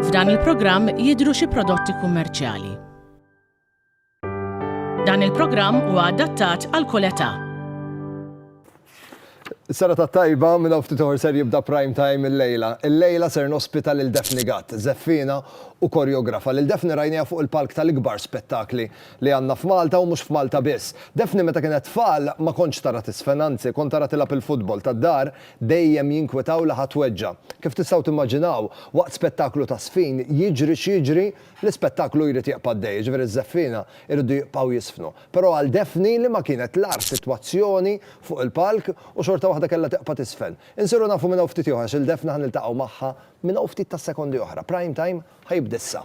F'dan il-programm jidhru xi prodotti kummerċjali. Dan il-programm huwa adattat għal kull età. Sara ta' tajba minn hawn ftit ser jibda prime time il-lejla. Il-lejla ser nospita lil Daphne Gatt, żeffina u koreografa. Lil Daphne rajniha fuq il-palk tal-ikbar spettakli li għandna f'Malta u mhux f'Malta biss. Daphne meta kienet tfal ma kontx tara tiżfen anzi kont ara tilgħab il-futbol tad-dar dejjem jinkwitaw li ħa tweġġa'. Kif tistgħu timmaġinaw waqt spettaklu ta' żfin jiġri x'jiġri l-ispettaklu jrid jieqpa' għaddej jiġifieri ż-żeffiena jridu jibqgħu jiżfnu. Però għal Daphne li ma kienet l-agħar sitwazzjoni fuq il-palk u xorta waħda kellha tiqpa' tiżfen. Insiru nafu minn hawn ftit ieħor għax il-Daphne ħa niltaqgħu magħha minn hawn ftit tas-sekondi oħra. Prime Time ħa jibda issa.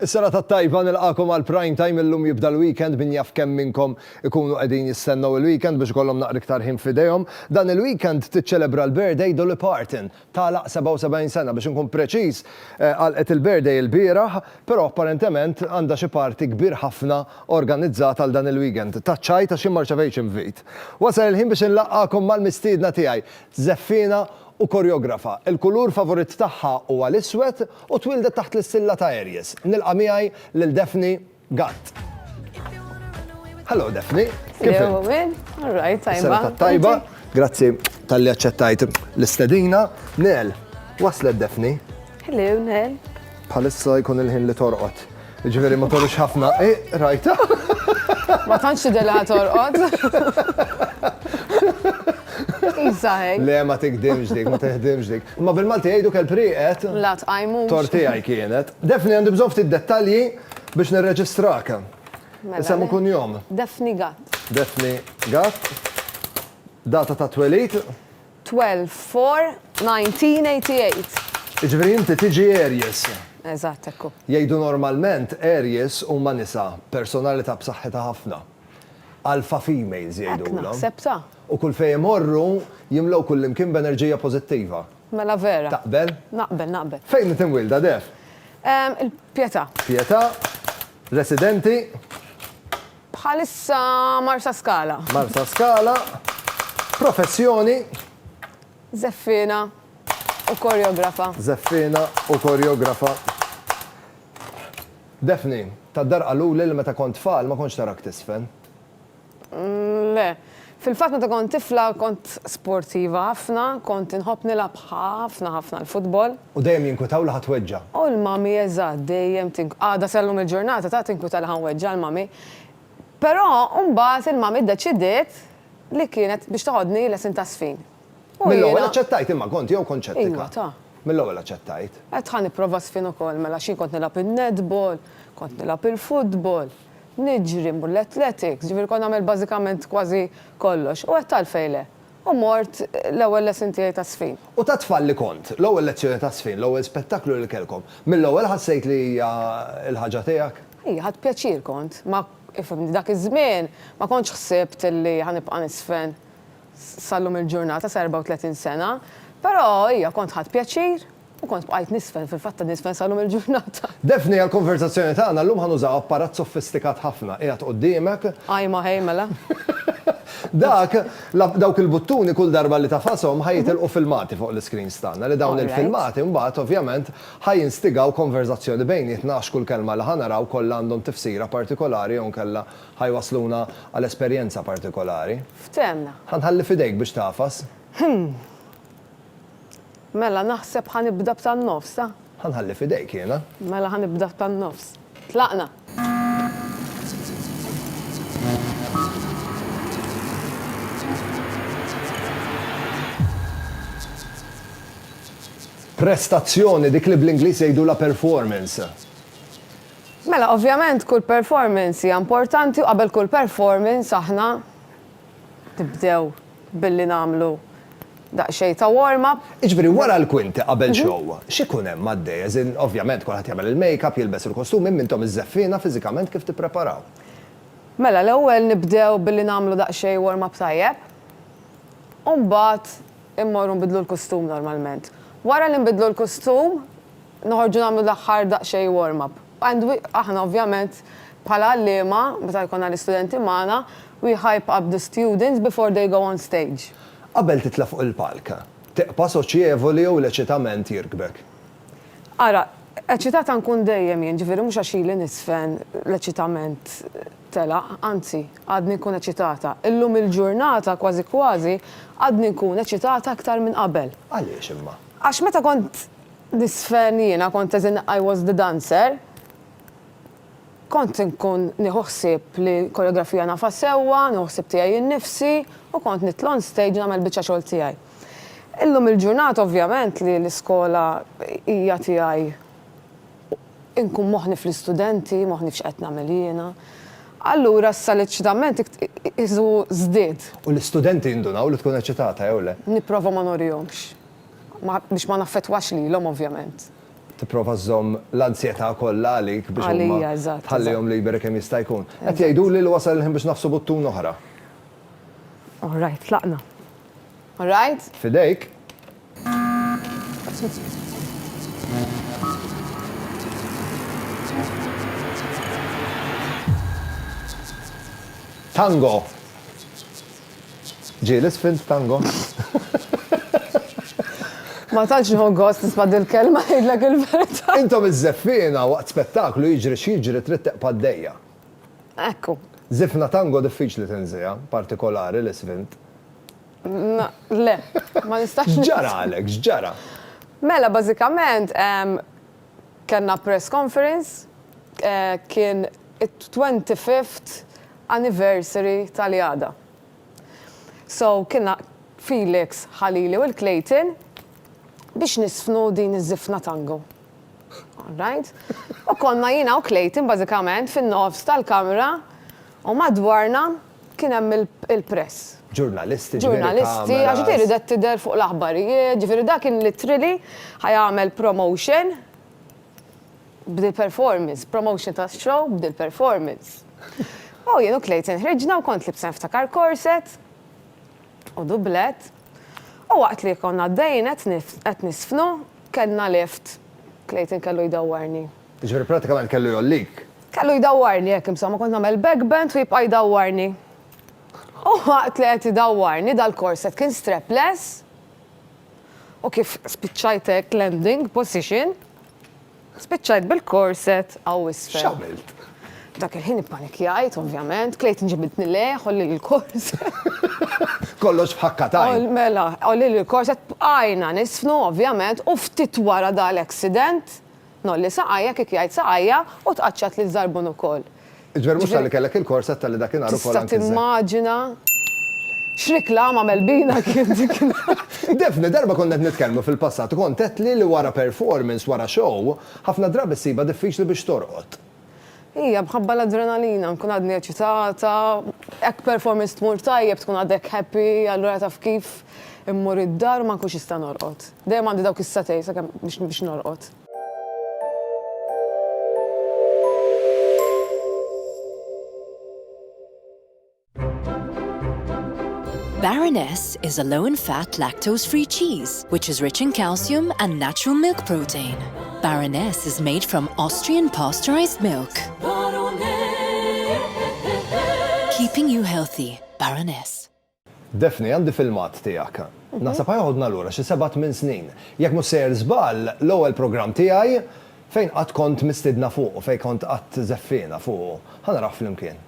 Is-sena tat-tajba, nilqagħkom għal Prime Time, illum jibda l-weekend, min jaf kemm minnkom ikunu qegħdin jistennew il-weekend biex ikollhom naqra iktar ħin f'idejhom. Dan il-weekend tiċċelebra l-birthday Dolly Parton, tagħlaq 77 sena, biex inkun preċiż għalqet il-birthday ilbieraħ, però apparentement għandha xi party kbir ħafna organizzat għal dan il-weekend. Taċċajt għax jien ma rċevejtx invit. Wasal il-ħin biex inlaqqagħkom mal-mistiedna tiegħi, żeffiena u koreografa. Il-kulur favorit tagħha huwa l-iswed u twieldet taħt l-issilla ta' Aries. Nilqa' miegħi lil Daphne Gatt. Hello Daphne, kif int? All right, tajba. Is-sena tat-tajba. Grazzi talli aċċettajt l-istedina. Nel, waslet Daphne. Hello, Nel. Bħalissa jkun il-ħin li torqod. Ġifieri ma torux ħafna, eh, rajta? Ma tantx tidilha torqod. Iżaħek. Le ma tikdimx dik, ma tiħdimx dik. Ma bil-Malti jgħidu kell priqet. La tqajmu. Tortijaj kienet. Defni għandi bżonn ftit dettalji biex nirreġistrak. Mela, Isem u kun jom. Defni Gatt. Defni Gatt. Data ta' twelid. Twelve, four, nineteen eighty eight. Jiġifieri inti tiġi Aries. Eżatt, hekk hu. Jgħidu normalment Aries huma nisa b'personalità b'saħħitha ħafna. Alpha females jgħidulhom. Hekk naħseb ta. U kull fejn imorru jimlew kullimkien b'enerġija pożittiva. Mela vera. Taqbel? Naqbel, naqbel. Fejn int imwielda, Def? Il-Pietà. Pietà. Residenti? Bħalissa Marsaskala. Marsaskala, professjoni. Żeffiena u korjografa. Żeffiena u korjografa. Daphne, tad-dar qaluli li meta kont tfal ma kontx tarak tiżfen. Le. Fil-fatt meta kont tifla kont sportiva ħafna, kont inħobb nilgħab ħafna ħafna l-futbol. U dejjem jinkwitaw li ħa tweġġa'. U l-mummy eżatt dejjem tink. Għada sa llum il-ġurnata ta' tinkwita li ħa nweġġa' l-mummy. Però mbagħad il-mummy ddeċidiet li kienet biex toħodni lesin ta' żfin. U jiena. Mill-ewwel aċċettajt imma kont jew kont xettika? Iwa ta. Mill-ewwel aċċettajt. Għedt ħa nipprova żfin ukoll mela xi kont nilgħab in-netball, kont nilgħab il-futbol. Niġri, mmur l-athletics, ġifieri kont nagħmel bażikament kważi kollox. U għedt għalfejn le. U mort l-ewwel lesson tiegħi ta' żfin. U ta' tfal li kont, l-ewwel lezzjoni ta' żfin, l-ewwel spettaklu li kellkom, mill-ewwel ħassejt li hija l-ħaġa tiegħek? Iva, ħadt pjaċir kont. Ma, ifhimni, dak iż-żmien ma kontx ħsibt li ħa nibqa' niżfen sal-lum il-ġurnata, sa 34 sena. Però, iva, kont ħadt pjaċir. U kont bqajt nisfen, fil-fatt qed nisfen sal-lum il-ġurnata. Daphne, għall-konversazzjoni tagħna llum ħa nużaw apparat sofistikat ħafna, qiegħed qudiemek. Ajma ħej mela. Dak, dawk il-buttuni kull darba li tafashom ħa jitilqu filmati fuq l-iscreens tagħna li dawn il-filmati mbagħad ovvjament ħa jinstigaw konversazzjoni bejnietna għax kull kelma li ħa naraw kollha għandhom tifsira partikolari jew inkella ħa jwassluna għal esperjenza partikolari. Ftehmna. Ħa nħalli f'idejk biex tagħfas. Hm. Mela, naħseb ħa nibda b'tan-nofs, ha? Ħa nħalli f'idejk jiena. Mela ħa nibda b'tan-nofs. Tlaqna! Prestazzjoni, dik li bl-Ingliż jgħidulha performance. Mela, ovvjament kull performance hija importanti u qabel kull performance aħna Nibdew billi nagħmlu daqsxejn ta' warm up. Jiġifieri wara l-kwinti qabel show, x'ikun hemm għaddej? As in, ovvjament kulħadd jagħmel il-make up, jilbes il-kostum, imma intom iż-żeffiena fiżikament kif tippreparaw? Mela l-ewwel nibdew billi nagħmlu daqsxejn warm up tajjeb, u mbagħad immorru nbiddlu l-kostum normalment. Wara li nbiddlu l-kostum, noħorġu nagħmlu l-aħħar daqsxejn warm up. And we, aħna ovvjament bħala għalliema, meta jkollna l-istudenti magħna, we hype up the students before they go on stage. Qabel titla' fuq il-palk, tibqa' soċjevoli jew l-eċitament jirkbek? Ara, eċitata nkun dejjem jien, ġifieri mhux għax ili niżfen l-eċitament telaq, anzi, għadni nkun eċitata. Illum il-ġurnata kważi kważi għadni nkun eċitata aktar minn qabel. Għaliex imma? Għax meta kont Nisfen jiena kont as in I was the dancer. Kont inkun nieħu ħsieb li koreografija nafha sewwa, nieħu ħsieb tiegħi innifsi u kont nitla' on stage nagħmel il-biċċa xogħol tiegħi. Illum il-ġurnata ovvjament li l-iskola hija tiegħi inkun moħħni fl-istudenti, moħħni f'x'qed nagħmel jiena. Allura issa l-eċċitament qisu żdied. U l-istudenti jindunaw li tkun eċċitata jew le? Nipprova ma nurihomx. biex ma naffettwax lilhom ovvjament. Tipprova żżomm l-anzjetà kollha għalik biex huma tħallihom liberi kemm jista' jkun. Qed jgħiduli li wasal il-ħin biex nagħfsu buttun oħra. All right, tlaqna. All right? F'idejk. Tango! Ġie l-isfin f'tango? Ma tantx nieħu gost nisma' dil-kelma ngħidlek il-verità. Intom iż-żeffiena waqt spettaklu jiġri x'jiġri trid tibqa' għaddejja. Ekku. Żifna tango diffiċli tinżiegħha, partikolari l-isfin. Na, le, ma nistax. X'ġaralek, x'ġara? Mela bażikament, Kellna press conference, kien it-twenty fifth anniversary tal-Jada. So kienna Felix Ħalili u l-Clayton biex niżfnu din iż-żifna tango. All right? U konna jiena u Clayton bażikament fin-nofs tal-kamra u madwarna, Kien hemm il-press. Ġurnalisti, ġurnalisti, għax di ridet tidher fuq l-aħbarijiet, ġifieri da kien literally ħajagħmel promotion b'dil performance, promotion ta' show b'dil performance. U jien u Clayton ħriġna u kont libsa niftakar korset u dublet. U waqt li konna għaddejjin qed nisfnu kellna lift. Clayton kellu jdawwarni. Jiġifieri prattikament kellu jgħollik. Kellu jdawwarni, hekk insomma, kont nagħmel back bend u jibqa' jdawwarni. U waqt li qed idawwarni dal-korset kien strapless u kif spiċċajt hekk landing position, spiċċajt bil-korset hawn isfel. X'għamilt? Dak il-ħin ippanikjajt ovvjament, klejt inġibidni lejh, għolli l-korset. Kollox f'ħakka t'għajn. Mela, għolli l-korset, bqajna niżfnu ovvjament u ftit wara dal-accident, Ngħolli saqajja, kif jgħid saqajja, u tqaċċat lil Żarbun ukoll. Jiġifieri mhux talli kellek il-korset talli dakinhar ukoll anki żemm. Tista' timmaġina x'riklama Melbina kien dik in-nhar. Daphne, darba konna qed nitkellmu fil-passat u kont għedtli li wara performance, wara show, ħafna drabi ssibha diffiċli biex torqod. Hija mħabba l-adrenalina, nkun għadni eċitata, hekk performance tmur tajjeb tkun għadek happy, allura taf kif, immur id-dar u ma nkunx nista' norqod. Dejjem għandi dawk is-satej sakemm biex norqod. Baroness is a low in fat lactose free cheese which is rich in calcium and natural milk protein. Baroness is made from Austrian pasteurized milk. Keeping you healthy, Baroness. Daphne, għandi filmat tiegħek. Naħseb ħajħodna lura xi seba' tmien snin. Jekk mhux sejjer żball, l-ewwel programm tiegħi fejn qatt kont mistidna fuqu, fejn kont qatt żeffiena fuqu. Ħa naraħ flimkien.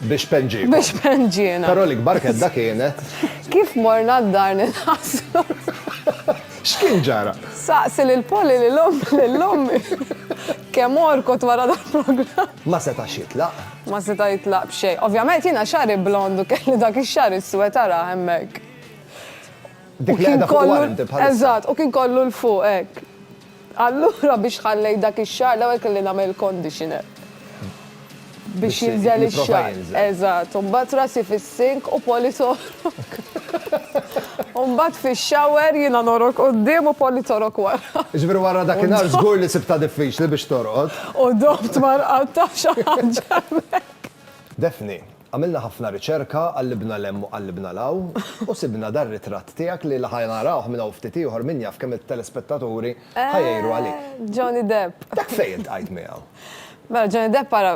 Biex penġiekom. Biex penġiena. Però l-ikbar kedda kienet. Kif morna d-dar nitħassru. X'kien ġara? Saqsi lil Poli lil ommi lil ommi. Kemm orkot wara dal-programm. Ma setax jitlaq. Ma seta' jitlaq b'xejn. Ovvjament jiena xagħri blond u kelli dak ix-xagħar iswed ara hemmhekk. Dik li qiegħda fuq warranty bħalissa. Eżatt, u kien kollu 'l fuq hekk. Allura biex ħallejt dak ix-xagħar l-ewwel kelli nagħmel il-conditioner biex jinżel ix-xagħar. Eżatt. U mbagħad rasi fis-sink u Polly torok. U mbagħad fix-shower jiena norok quddiem u Polly torok wara. Jiġifieri wara dakinhar żgur li sibtha diffiċli biex torqod. U dobt ma rqadtx għax għaġġa hemmhekk. Daphne, Għamilna ħafna riċerka, qallibna 'l hemm u qallibna 'l hawn, u sibna dar-ritratt tiegħek li ħa narawh minn hawn ftit ieħor min jaf kemm it-telespettaturi ħa jgħiru għalik. Eh, Johnny Depp! Dak fejn iltqajt miegħu? Mela, Johnny Depp ara,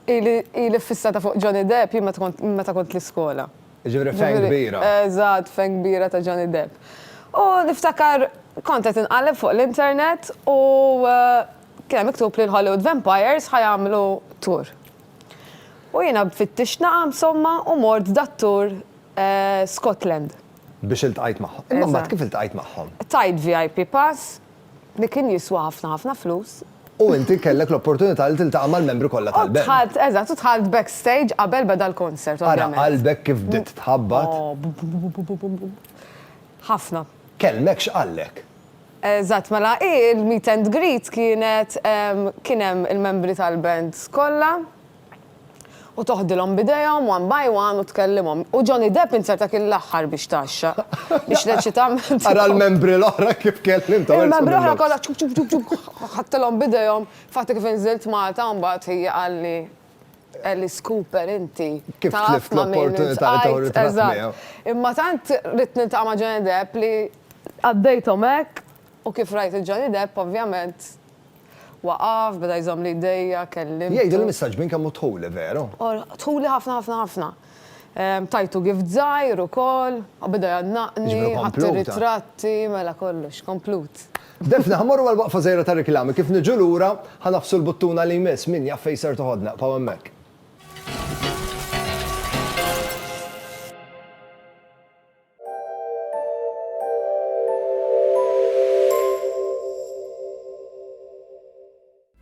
ili, ili ffissata fuq Johnny Depp jien meta kont, minn meta kont l-iskola. Jiġifieri f'għen kbira. Eżatt, f'għen kbira ta' Johnny Depp. U niftakar kont qed inqalleb fuq l-internet u kien hemm miktub li l-Hollywood Vampires ħa jagħmlu tour. U jiena b'fittixt naqa' msomma u mort dat-tour Scotland. Biex iltqajt magħhom. Imma mbagħad kif iltqajt magħhom? Tajt VIP pass li kien jiswa ħafna ħafna flus. U inti kellek l-opportunità li tiltaqa' mal-membri kollha tal-band. U dħalt, eżatt, u dħalt backstage qabel beda l-concert ovvjament. Ara qalbek kif bdiet tħabbat. Ħafna. Kellmek x'qallek? Eżatt, mela hi l-meet and greet kienet kien hemm il-membri tal-band kollha u toħdilhom b'idejhom one by one u tkellimhom. U Johnny Depp insert dak il-aħħar biex tgħaxxaq biex reċitament. Ara l-membri l-oħra kif kellimthom. Il-membri l-oħra kollha ċup ċup ċup ċup ħadtilhom b'idejhom. Infatti kif inżilt Malta mbagħad hi qalli Alice Cooper inti. Kif tlift l-opportunità li tieħu ritratt miegħu. Imma tant ridt niltaqa' ma' Johnny Depp li qaddejthom hekk u kif rajt lil Johnny Depp ovvjament waqaf, beda jżommli jdejja, kellimtu. Jgħidilhom issa xbin kemm hu dħuli, veru? Dħuli ħafna ħafna ħafna. Tajtu gift żgħir ukoll, u beda jgħannaqni, ħadt ir-ritratti, mela kollox, komplut. Daphne, Ħa mmorru għal waqfa żgħira ta' riklami, kif niġu lura, ħa nagħfsu l-buttuna li jmiss, min jaf fejn ser toħodna, ibqgħu hemmhekk.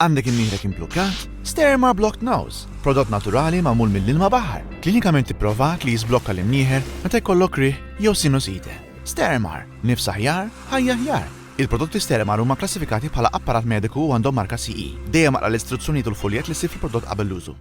Għandek imnieħrek implukkat? Sterma Blocked Nose, prodott naturali magħmul mill-ilma baħar, klinikament ipprovat li jiżblokka l-imnieħer meta jkollok riħ jew sinusite. Stermar, nifs aħjar, ħajja aħjar. Il-prodotti Stermar huma kklassifikati bħala apparat mediku u għandhom marka CE. Dejjem aqra l-istruzzjonijiet u l-fuljett li ssib fil-prodott qabel l-użu.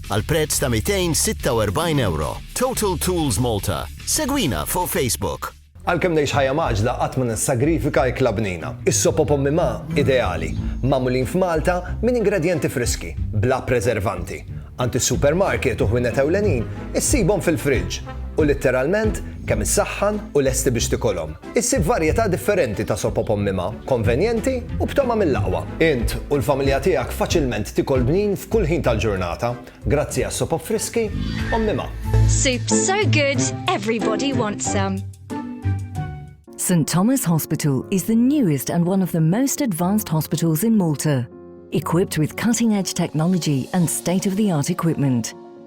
għal prezz ta' €246. Total Tools Malta. Segwina fuq Facebook. Għalkemm ngħix ħajja mgħaġġla qatt ma nissagrifika ikla bnina. Is-sopop Ommi Ma ideali, magħmulin f'Malta minn ingredjenti friski, bla preservanti. Għand is-supermarket u ħwienet ewlenin issibhom fil-friġġ u litteralment kemm issaħħan u lesti biex tikolhom. Issib varjetà differenti ta' soppa b'ommima, konvenjenti u b'togħma mill-aqwa. Int u l-familja tiegħek faċilment tikol bnin f'kull ħin tal-ġurnata, grazzi għas-sopop friski ommima. Soup so good, everybody wants some. St Thomas Hospital is the newest and one of the most advanced hospitals in Malta, equipped with cutting-edge technology and state-of-the-art equipment.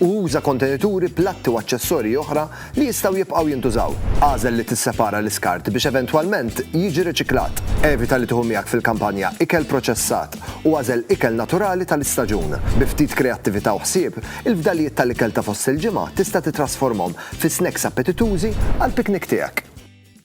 u uża kontenituri, platti u aċċessorji oħra li jistgħu jibqgħu jintużaw. Agħżel li tissepara l-iskart biex eventwalment jiġi riċiklat. Evita li tieħu miegħek fil-kampanja ikel proċessat u agħżel ikel naturali tal-istaġun. Bi ftit kreattività u ħsieb, il-fdalijiet tal-ikel ta' fost il-ġimgħa tista' titrasformhom fi snacks appetitużi għall-piknik tiegħek.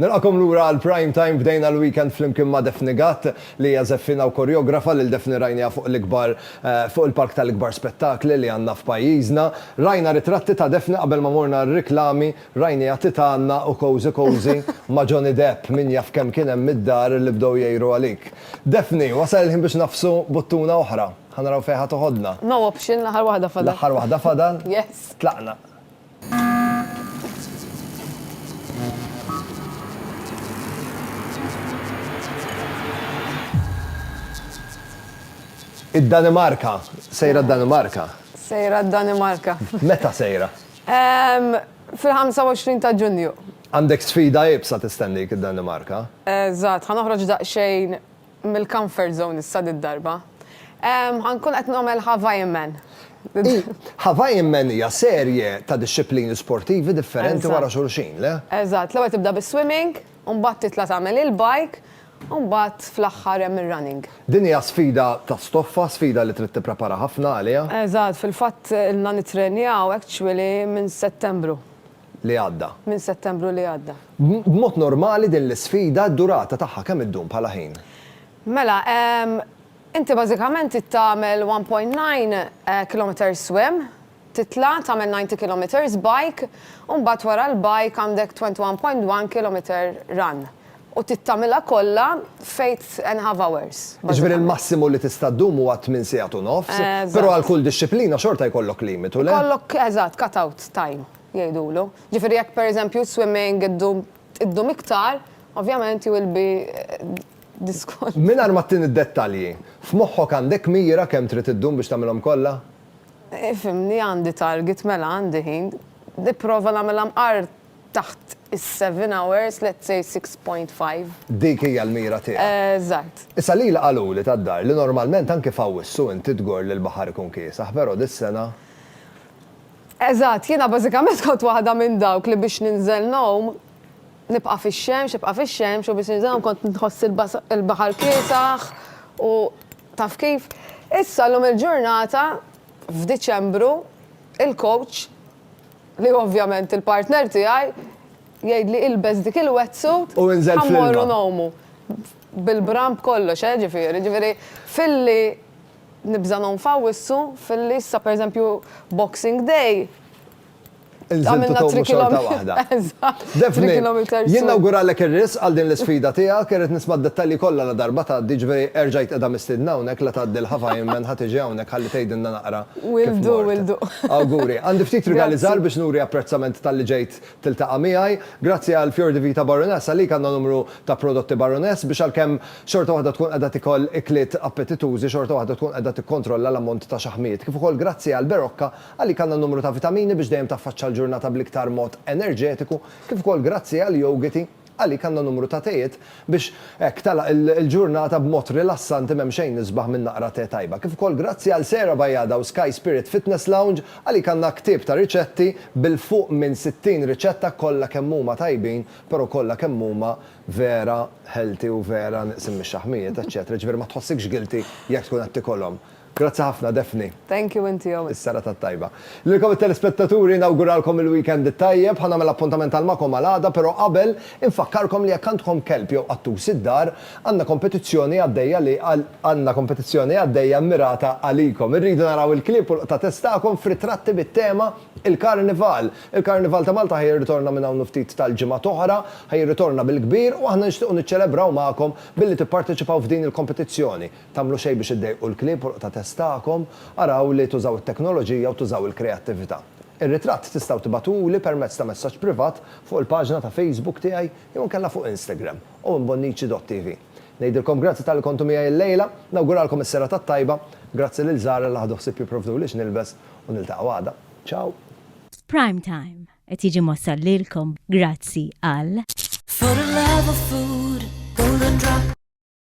Nilqakom lura għal Prime Time bdejna l-weekend flimkien ma' Daphne Gatt li hija żeffina u koreografa lil Daphne rajniha fuq l-ikbar fuq il-palk tal-ikbar spettakli li għandna f'pajjiżna. Rajna ritratti ta' Daphne qabel ma morna r-riklami rajniha titgħanna u cozy cozy ma' Johnny Depp min jaf kemm kien hemm mid-dar li bdew jgħiru għalik. Daphne, wasal il-ħin biex nagħfsu buttuna oħra. Ħa naraw fejn ħa toħodna. No option, l-aħħar waħda fadal. L-aħħar waħda fadal? Yes. Tlaqna. Id-Danimarka. Sejra d-Danimarka. Sejra d-Danimarka. Meta sejra? Fil-25 ta' Ġunju. Għandek sfida ibsa tistendik id-Danimarka? Eżatt, ħanoħroġ daqsxejn mill-comfort zone issa did-darba. Ħa nkun qed nagħmel Hawaiian Man. Hawaiian Man hija serje ta' dixxiplini sportivi differenti wara xulxin, le? Eżatt, l-ewwel tibda bis-swimming, u mbagħad titla' tagħmel il-bike, u mbagħad fl-aħħar hemm ir-running. Din hija sfida ta' stoffa, sfida li trid tipprepara ħafna għaliha. Eżatt, fil-fatt ilna nittrenjaw actually minn Settembru. li għadda. Minn Settembru li għadda. B'mod normali din l-isfida d-durata tagħha kemm iddum bħala ħin? Mela, inti bażikament trid tagħmel 1.9 kilometres swim, titla' tagħmel 90 kilometres bike, u mbagħad wara l-bike għandek 21.1 kilometer run. U trid tagħmilha kollha f'eight and a half hours. Jiġifieri l-massimu li tista' ddum huwa tmien sigħat u nofs, però għal kull dixxiplina xorta jkollok limitu, le? Ikollok, eżatt, cut-out time jgħidulu. Jiġifieri jekk pereżempju s-swimming iddum iddum iktar, ovvjament you will be disqualified. Mingħajr ma ttini d-dettalji, f'moħħok għandek mira kemm trid iddum biex tagħmilhom kollha? Ifhimni, għandi target, mela għandi ħin. Nipprova nagħmilha mqar taħt is-seven hours, let's say six point five. Dik hija l-mira tiegħek. Eżatt. Issa lili qaluli tad-dar li normalment anki f'Awwissu inti tgorr li l-baħar ikun kiesaħ pero dis-sena. Eżatt, jiena bażikament kont waħda minn dawk li biex ninżel ngħum nibqa' fix-xemx, ibqa' fix-xemx u biex ninżel ngħum kont nħoss il-baħar kiesaħ u taf kif. Issa llum il-ġurnata f'Diċembru il-coach, Li ovvjament il-partner tiegħi jgħidli ilbes dik il-wetsuit ħa mmorru ngħumu. Bil-bram b'kollox, eh, ġifieri. Ġifieri filli nibża' ngħum f'Awwissu, filli issa pereżempju Boxing Day għamilna three kilometres. Inżiltu tgħumu xorta waħda. Eżatt. Daphne, jien nawguralek ir-risq għal din l-isfida tiegħek, irrid nisma' d-dettalji kollha ladarba tgħaddi, ġifieri erġa' qiegħda mistiedna hawnhekk la tgħaddi l-Hava Ironman ħa tiġi hawnhekk ħalli tgħidilna naqra kif mort. Awguri. Għandi ftit rigali żgħar biex nuri apprezzament talli ġejt tiltaqa' miegħi. Grazzi għal Fior di Vita Baroness, għalik għandna numru ta' prodotti Baroness biex għalkemm xorta waħda tkun qiegħda tikol ikliet appetitużi xorta waħda tkun qiegħda tikkontrolla l-ammont ta' xaħmijiet, kif ukoll grazzi għall-Berocca Għalik għandha numru ta' vitamini biex dejjem taffaċċa l-ġurnata bl-iktar mod enerġetiku, kif ukoll grazzi għall-yogiti, għalik għandha numru ta' tejiet biex hekk tagħlaq il-ġurnata b'mod rilassanti m'hemm xejn isbaħ minn naqra te tajba, kif ukoll grazzi għal Sera Bajada u Sky Spirit Fitness Lounge, għalik għandna ktieb ta' riċetti bil fuq minn 60 riċetta kollha kemm huma tajbin però kollha kemm huma vera healthy u vera nieqsin mix-xaħmijiet eċċetera jiġifieri ma tħossikx guilty jekk tkun qed tikolhom. Grazzi ħafna Daphne. Thank you inti Owen. Is-serata t-tajba. Lilkom it-telespettaturi nawguralkom il-weekend it-tajjeb, ħa nagħmel appuntament għal magħkom għal għada però qabel infakkarkom li jekk għandkom kelb jew qattus id-dar għandna kompetizzjoni għaddejja li għandna kompetizzjoni għaddejja mmirata għalikom. Irridu naraw il-klieb u l-qtates tagħkom f'ritratti bit-tema Il-Karnival. Il-Karnival ta' Malta ħa jirritorna minn hawn u ftit tal-ġimgħat oħra, ħa jirritorna bil-kbir u aħna nixtiequ niċċelebraw magħkom billi tipparteċipaw f'din il-kompetizzjoni. Tagħmlu xejn biex iddejqu l-klieb u l-qtates tagħkom, araw li tużaw it-teknoloġija u tużaw il-kreattività. Ir-ritratt tistgħu tibagħtuli permezz ta' messaġġ privat fuq il-paġna ta' Facebook tiegħi jew inkella fuq Instagram, owenbonnici.tv. Ngħidilkom grazzi talli kontu miegħi llejla, nawguralkom is-serata t-tajba, grazzi lil Zara li ħadu ħsieb jipprovduli x'nilbes u niltaqgħu għada. Ciao! Prime Time qed jiġi mwassal lilkom grazzi għal.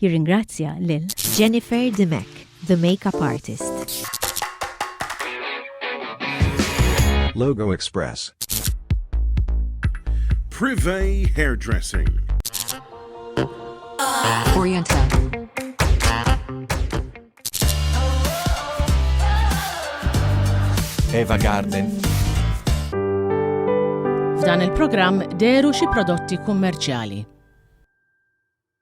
Jirringrazzja lil. Jennifer Dimech, the makeup artist. Logo Express. Privé Hairdressing. Oriental. Eva Garden. F'dan il-programm deru xi prodotti kummerċjali.